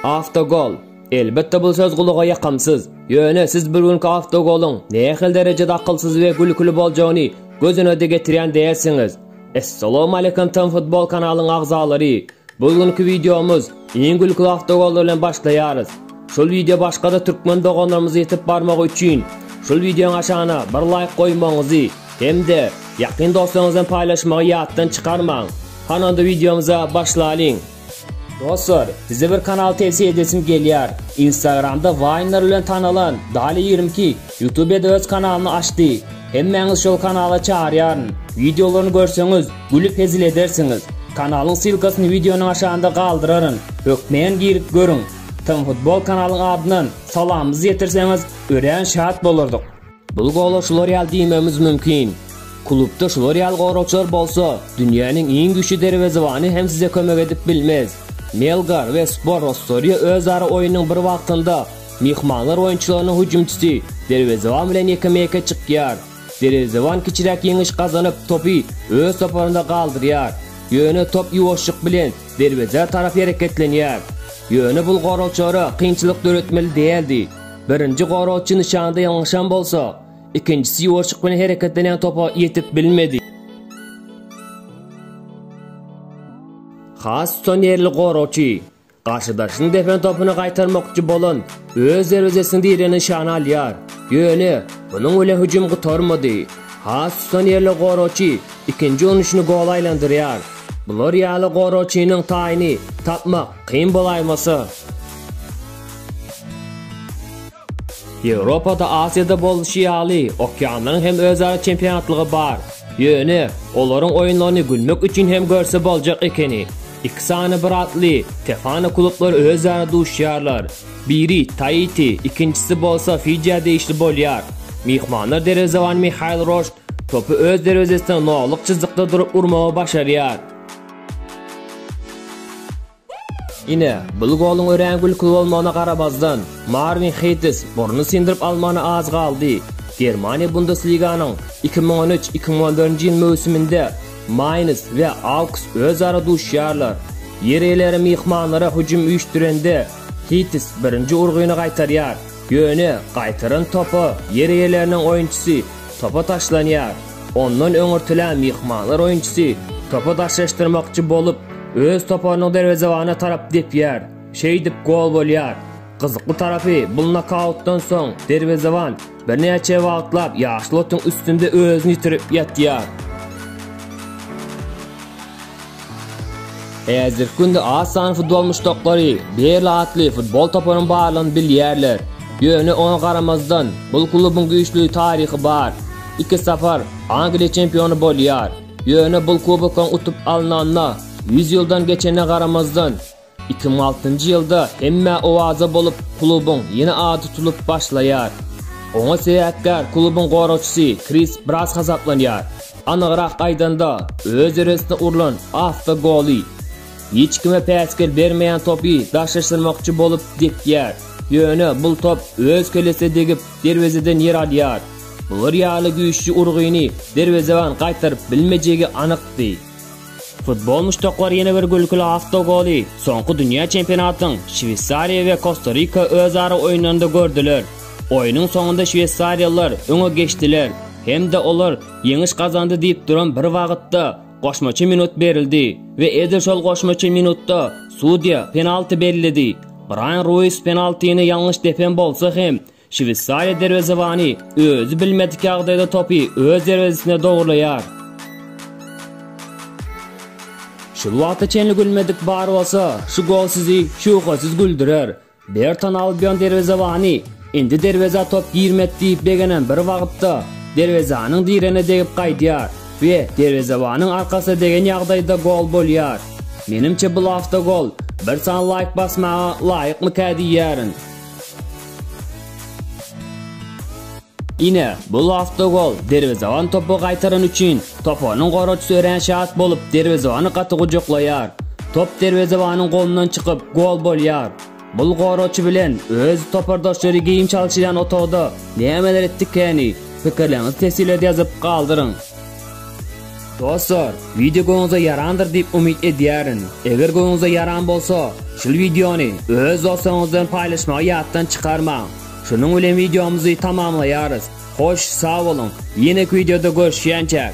Awtogol. Elbetde bul söz gulaga ýakamsyz. Ýöne siz bir günki awtogolyň nähili derejede akylsyz we gülküli boljagyny göz önüde getirýän dälsiňiz. Essalamu aleýkum Tm Futbol kanalyň agzalary. Bul günki wideomyz iň gülküli awtogollar bilen başlaýarys. Şul wideo başgada türkmen doganlarymyza ýetip barmagy üçin şul wideoň aşagyna bir laýk goýmagyňyzy hem-de ýakyn dostlaryňyz bilen paýlaşmagy ýatdan çykarmaň. Hany onda wideomyza başlalyň. Dostlar, size bir kanal tewsiýe edesim gelýär. Instagramda Waýnlar bilen tanalan Dali ýigrimi iki Ýutubede öz kanalyny açdy. Hemmäňizi şol kanala çagyrýaryn. Wideolaryny görseňiz, gülüp hezil edersiňiz. Kanalyň ssylkasyny wideonyň aşagynda galdyraryn. Hökmän girip görüň. Tmfutbol kanalyň adyndan salamymyzy ýetirseňiz, örän şat bolardyk. Bul gola şular ýaly diýmegimiz mümkin. Klubda şular ýaly goragçylar bolsa, dünýäniň iň güýçli derwezebany hem size kömek edip bilmez. Melgar we Spor Rostoriýa özara oýunyň bir wagtynda myhmanlar oýunçylarynyň hüjümçisi, derwezeban bilen ýekeme-ýeke çykýar. Derwezeban kiçiräk ýeňiş gazanyp, topy öz toparynda galdyrýar. Ýöne top ýuwaşjyk bilen derwezä tarap hereketlenýär. Ýöne bul goragçylara kynçylyk döretmeli däldi. Birinji goragçy nyşanda ýalňyşan bolsa, ikinjisi ýuwaşyk bilen hereketlenýän topa ýetip bilmedi. Has tutan ýerli goragçy garşydaşynyň depen topyny gaýtarmakçy bolan öz derwezesiniň direginden nyşana alýar. Ýöne munuň bilen hüjüm gutarmady. Has tutan ýerli goragçy ikinji urunşyny gola aýlandyrýar. Bular ýaly goragçynyň taýyny tapmak Kyn bolaýmasa. Ýewropada, Aziýada bolşy ýaly, okeanlaryň hem özara çempionatlygy bar. Ýöne, olaryň oýunlaryny gülmek üçin hem görse boljak ekeni. Iki sany bir atly, Tefano klublary özara duşýarlar. Biri, Taiti, ikinjisi bolsa Fijiä degişli bolýar. Myhmanlar derwezebany Mihail Roşt topy öz derwezesine nollyk çyzykda durup urmagy başarýar. Ine, bul goluň örän gülküli bolmagyna garamazdan, Marwin Heýtis burnuny syndyryp almagyna az galdy. Germaniýa Bundesliganyň iki müň on üç, iki müň on dördünji ýyl möwsüminde Maýns we Auks özara duşýarlar. Ýer eýeleri myhmanlara hüjüm üýşdürende, Heýtis birinji urgyny gaýtarýar, ýöne gaýtaran topa ýer eýeleriniň oýunçysy Topa taşlanýar. Ondan öňürtilen myhmanlar oýunçysy topy daşlaşdyrmakçy bolup, öz toparynyň derwezebanyna tarap depýär. Şeýdip gol bolýar. Gyzykly tarapy, bul nokautdan soň derwezeban birnäçe wagtlap ýaşyl otuň üstünde özüni ýitirip ýatýar. Häzirki günde az sanly doly muşdaklary Berli atly futbol toparyň barlygyny bilýärler. Ýöne oňa garamazdan, bu klubuň güýçli taryhy bar. Iki sapar Angliýa çempiony bolýar. Ýöne bu kubokyň utup alnanyna ýüz ýyldan geçenine garamazdan, Iki müň altynjy ýylda hemmä owaza bolup, klubuň ýene ady tutulyp başlaýar. Oňa sebäpkär klubuň goragçysy Kris Bras hasaplanýar. Anygrak aýdanda, öz deresine urlan awto goly. Hiç kime päsgel bermeýän topy daşlaşdyrmakçy bolup depýär. Ýöne bul top öz kellesine degip, derwezeden ýer alýar. Bular ýaly güýçli urgyny derwezeban gaýtaryp bilmejegi anykdy. Futbol muşdaklary ýene bir gülküli awtogoly soňky dünýä çempionatynyň Şweýsariýa we Kosta-Rika özara oýnanynda gördüler. Oýnuň soňunda şweýsariýalylar öňe geçdiler hem-de olar ýeňiş gazandy diýip duran bir wagtda goşmaça minut berildi we edil şol goşmaça minutda sudýa penalti belledi. Braýan Ruis penaltini ýalňyş depen bolsa hem, Şweýsariýa derwezebany özi bilmedik ýagdaýda topy öz derwezesine dogrulaýar. Şul wagta çenli gülmedik bar bolsa, şu gol sizi şübhesiz güldürer. Berton Albion derwezebany indi derwezä top girmedi diýip begenen bir wagtda, derwezäniň diregine degip gaýdýar we derwezebanyň arkasyna degen ýagdaýda gol bolýar. Menimçe bul awtogol. Bir sany laýk basmaga laýykmyka diýýärin. Ine, bu lasta gol, derwezeban topu gaýtarany üçin, toparynyň goraçysy örän şat bolup, derwezebany gaty gujaklaýar. Top derwezebanyň golundan çykyp, gol bolýar. Bul goraçy bilen öz topardaşlary geýim çalşylýan otagda nämeler etdikäni, pikirleriňizi teswirlerde ýazyp galdyryň. Dostlar, wideo göňüňize ýarandyr diýip umyt edýärin. Eger göňüňize ýaran bolsa, şul wideony öz dostlaryňyzdan paýlaşmagy ýatdan çykarmaň. Şunuň bilen wideomyzy tamamlaýarys. Hoş, sag boluň, ýenek wideoda görüşýänçäk!